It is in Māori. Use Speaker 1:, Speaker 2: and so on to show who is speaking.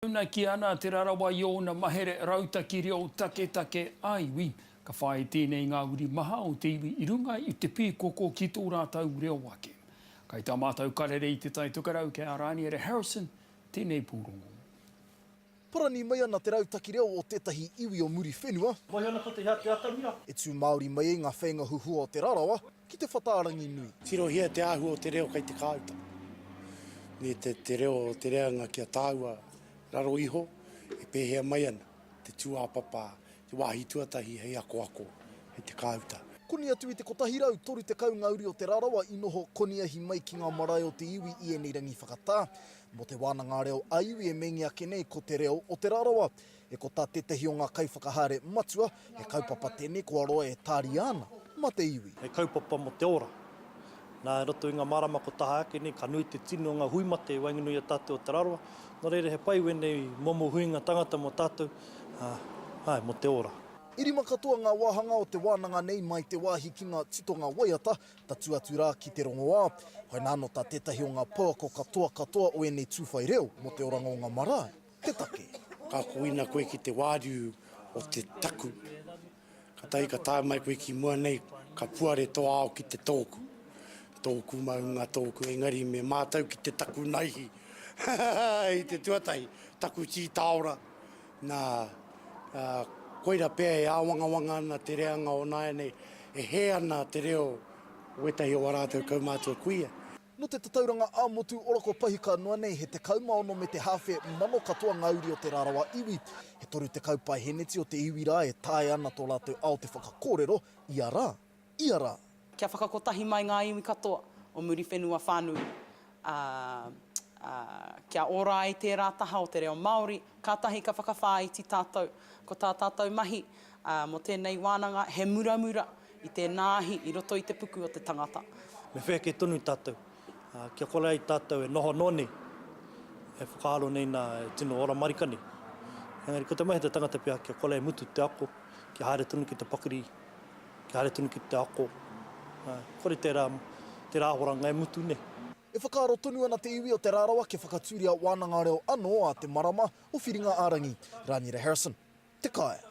Speaker 1: Taunaki ana Te Rarawa i ōna mahere rautaki reo taketake ā-iwi. Ka whāia tēnei i ngā uri maha o te iwi i runga i te pīkoko ki tō rātou reo ake. Kai tā mātou karere i Te Tai Tokerau kei a Rāniere Harrison tēnei pūrongo.
Speaker 2: Parani mai ana te rautaki reo o tētahi iwi o Muriwhenua. Mohi ana ko te hea te
Speaker 3: atamira. E tū Māori mai
Speaker 2: ai ngā wheinga huhua o Te Rarawa. ki te whata Ranginui. Tirohia te āhua o
Speaker 3: te reo kei te kāuta, me te reo o te reanga kia tāua raro iho e pēhea mai ana te tūāpapa te wāhi tuatahi hei akoako, hei te kāuta. Koni atu i te
Speaker 2: 130 ngā uri o Te Rarawa i noho koniahi mai ki ngā marae o te iwi i ēnei rangi whakatā. Mō te wānanga reo ā-iwi e meingia ake nei ko Te Reo o Te Rarawa. E ko tā tētehi o ngā kaiwhakahaere matua, he kaupapa tēnei kua roa e tāria ana mā te iwi. He kaupapa mō te ora.
Speaker 3: Nā, i roto i ngā marama kua taha ake nei, ka nui te tini o ngā hui mate i waenganui i a tātou Aotearoa, nō reira he pai wēnei momo huinga tangata mō tātou, ā, āe, mō te ora. I rima katoa ngā
Speaker 2: wāhanga o te wānanga nei mai te wāhi ki ngā titonga waiata, tatū atu rā ki te rongoā. Koinā anō tā tētahi o ngā pouako katoa katoa o ēnei tūwhai reo mō te oranga o ngā marae. te take. Ka koina koe
Speaker 3: ki te wāriu o te taku, katahi ka tae mai koe ki mua nei, ka puare to ao ki te tōku. Tōku maunga, tōku engari me mātau ki te taku naihi. I te tuatahi, taku tī tāora. Nā, koira pea e āwangawanga ana te reanga o nāianei, e hē ana te reo o wētahi o a rātou kaumātua kuia. Nō te tatauranga
Speaker 2: ā-motu ora kua pahi ka noa nei he 16 me te hāwhe mano katoa ngā uri o te rarawa iwi. He 30 paeheneti o te iwi rā e taea ana tō rātou ao te whakakōrero ia rā, ia rā. Kia
Speaker 4: whakakotahi mai ngā iwi katoa o Muriwhenua whānui, ā, ā, kia ora ai tērā taha o te reo Māori, kātahi ka whakawhāiti tātou. Ko tā tātou mahi, ā, mō tēnei wānanga, he muramura, I tēnā ahi, i roto i te puku o te tangata. Me whea kē tonu
Speaker 3: tātou. Kia kore ai tātou e noho noa nei, e whakaaro nei nā e tino ora marika nei. Engari ko te mahi o te tangata pea kia kore e mutu te ako, kia haere tonu ki te pakiri, kia haere tonu ki te ako. Kore tērā, tērā ahoranga e mutu nei. E whakaaro tonu
Speaker 2: ana te iwi o Te Rarawa kia whakatūria wānanga reo anō ā te marama o Whiringa-ā-rangi. Rānira Harrison. Te Kaea.